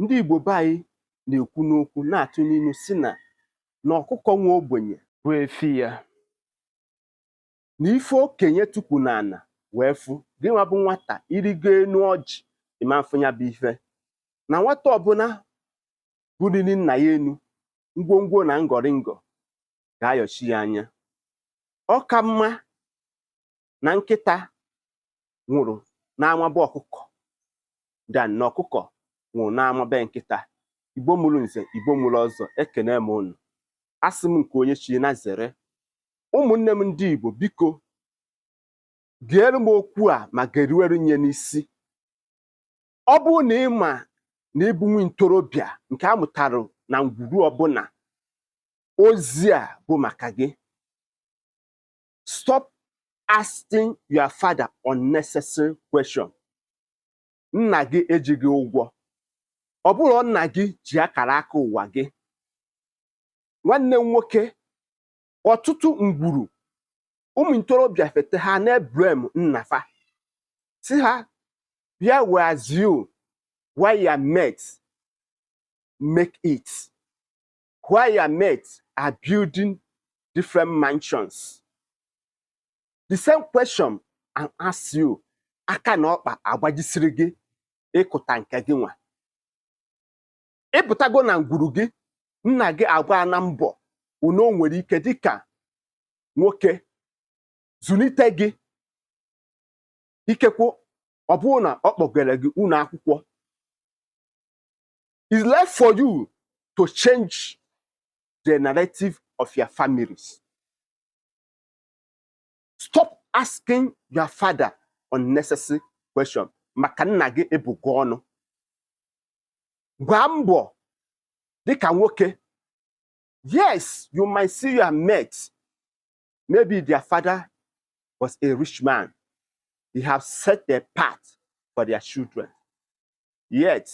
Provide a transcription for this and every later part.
ndị Igbo be anyị na-ekwu n'okwu na-atụ n'inu sị na na ọkụkọ nwa ogbenye bụ efi ya na ife okenye tukwu n'ana wee fụ gị nwa bụ nwata i rigo enu ọjị ị ma mfụ ya bụ ife na nwata ọbụna buliri nna ya enu ngwongwo na ngọrịngọ ga-ayọchi ya anya ọ ka mma na nkịta nwụrụ n'ama be ọkụkọ than na ọkụkọ nwụrụ n'ama be nkịta igbo mụrụ nze igbo mụrụ ọzọ ekenee m unu asị m nke onye chi nya zere ụmụnne m ndị igbo biko geere m okwu a ma geruwere nya n'isi ọ bụrụ na ị ma na ị bụ nwa ntorobịa nke a mụtara na ngwuru ọbụna ozi a bụ maka gị stop asking your father unnecessary question nna gị ejighị ụgwọ ọ bụrọ nna gị ji akara aka ụwa gị nwanne m nwoke ọtụtụ ngwuru ụmụ ntorobịa fete ha na-eblame nna fa sị ha where was you while your mates make it while your mates are building different mansions. The same question I ask you, aka na ọkpa agbajisiri gị ịkụta nke gị nwa. Ị pụtago na ngwuru gị, nna gị agbaana mbọ one o nwere ike dịka nwoke zụnite gị ikekwe ọ bụrụ na ọ kpọgara gị ụnọ akwụkwọ It's left for you to change the narrative of your families. Stop asking your father unnecessary question maka nna gị abụ gị ọnụ gbaa mbọ dịka nwoke yes you might see your mate Maybe their father was a rich man. He have set a path for their children. Yet,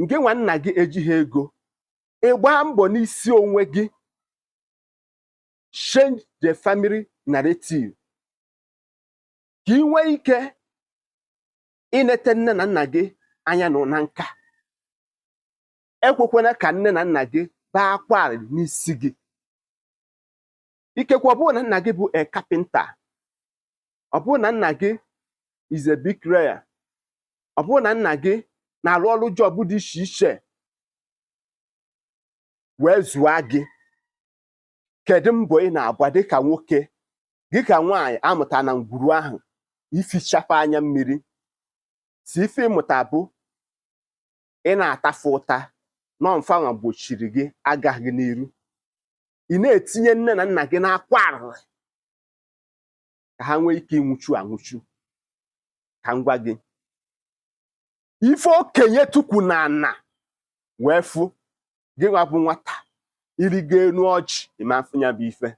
ngị nwa nna gị ejighị ego ị gbaa mbọ n'isi onwe gị change the family narrative ka i nwee ike inete nne na nna gị anya nọ na nka ekwekwana ka nne na nna gị bee akwa n'isi gị ikekwe ọ bụrụ na nna gị bụ a carpenter ọ bụrụ na nna gị is a bricklayer ọ bụrụ na nna gị na-arụ ọrụ job dị iche iche wee zụọ gị kedu mbọ ị na-agba dịka nwoke gị ka nwaanyị amụta na ngwuru ahụ ifichapụ anya mmiri sọ ife ị mụta bụ ị na-ata fa ụta na ọ bụ fanwa gbochiri gị agaghị n'iru ị na-etinye nne na nna gị n'akwa arịrị ka ha nwee ike ịnwụchu anwụchu ka m gwa gị ife okenye tukwu na ana wee fụ gị nwa bụ nwata i rigo enu ọjị ị ma afụ nya bụ ife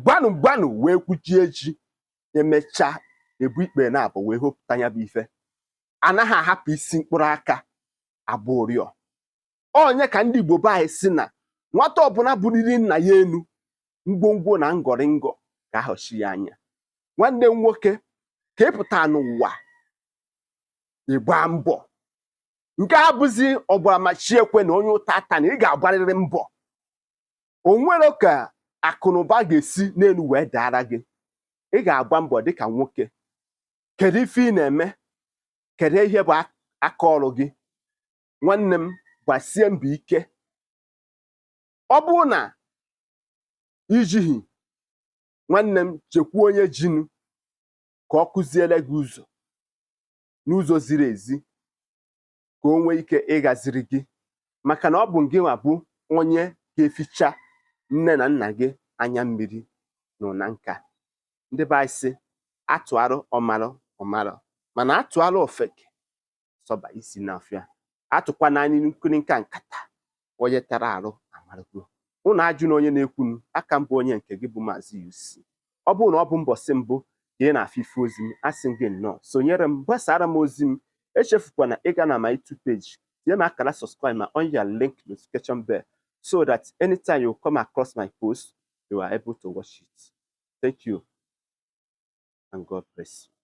gbanụ gbanụ wee gwujie ji emechaa egbuo ikpere naabọ wee hopụta ya bụ ife anaghị ahapụ isi mkpụrụ aka agba ụrịọ ọ nya ka ndị Igbo be anyị si na nwata ọbụla buliri nna ya enu ngwongwo na ngọrịngọ ga-ahọchi ya anya nwanne m nwoke ka ị pụta n'ụwa ịgba mbọ nke a bụzi ọ gbara ma chi ekwena onye ụta atana ị ga-agbarịrị mbọ o nwere ka akụnụba ga-esi n'enu wee daara gị ị ga-agba mbọ dịka nwoke kedu ife ị na-eme kedu ihe bụ aka ọrụ gị nwanne m gbasie mbọ ike ọ bụrụ na i jighị nwanne m jekwuo onye jinu ka ọ kụziere gị ụzọ n'ụzọ ziri ezi ka o nwee ike ịgaziri gị maka na ọ bụ gị nwa bụ onye ga-eficha nne na nna gị anya mmiri n'ụna nka ndị be anyị sị atụarụ ọmarụ ọ marụ mana atụarụ ofeke sọba isi n'ọfịa atụkwa n'anya nkirika nkata onye tara arụ amarụgo unu ajụna onye na-ekwunu aka m bụ onye nke gị bụ maazị UC ọ bụrụ na ọ bụ mbọsị mbụ ka ị na-afụ ife ozi m asị m gị nnọọ sonyere m gbasara m ozi m echefukwana ịga na my YouTube page tinye m akara subscribe ma on your link notification bell so that anytime you come across my post you are able to watch it thank you and God bless you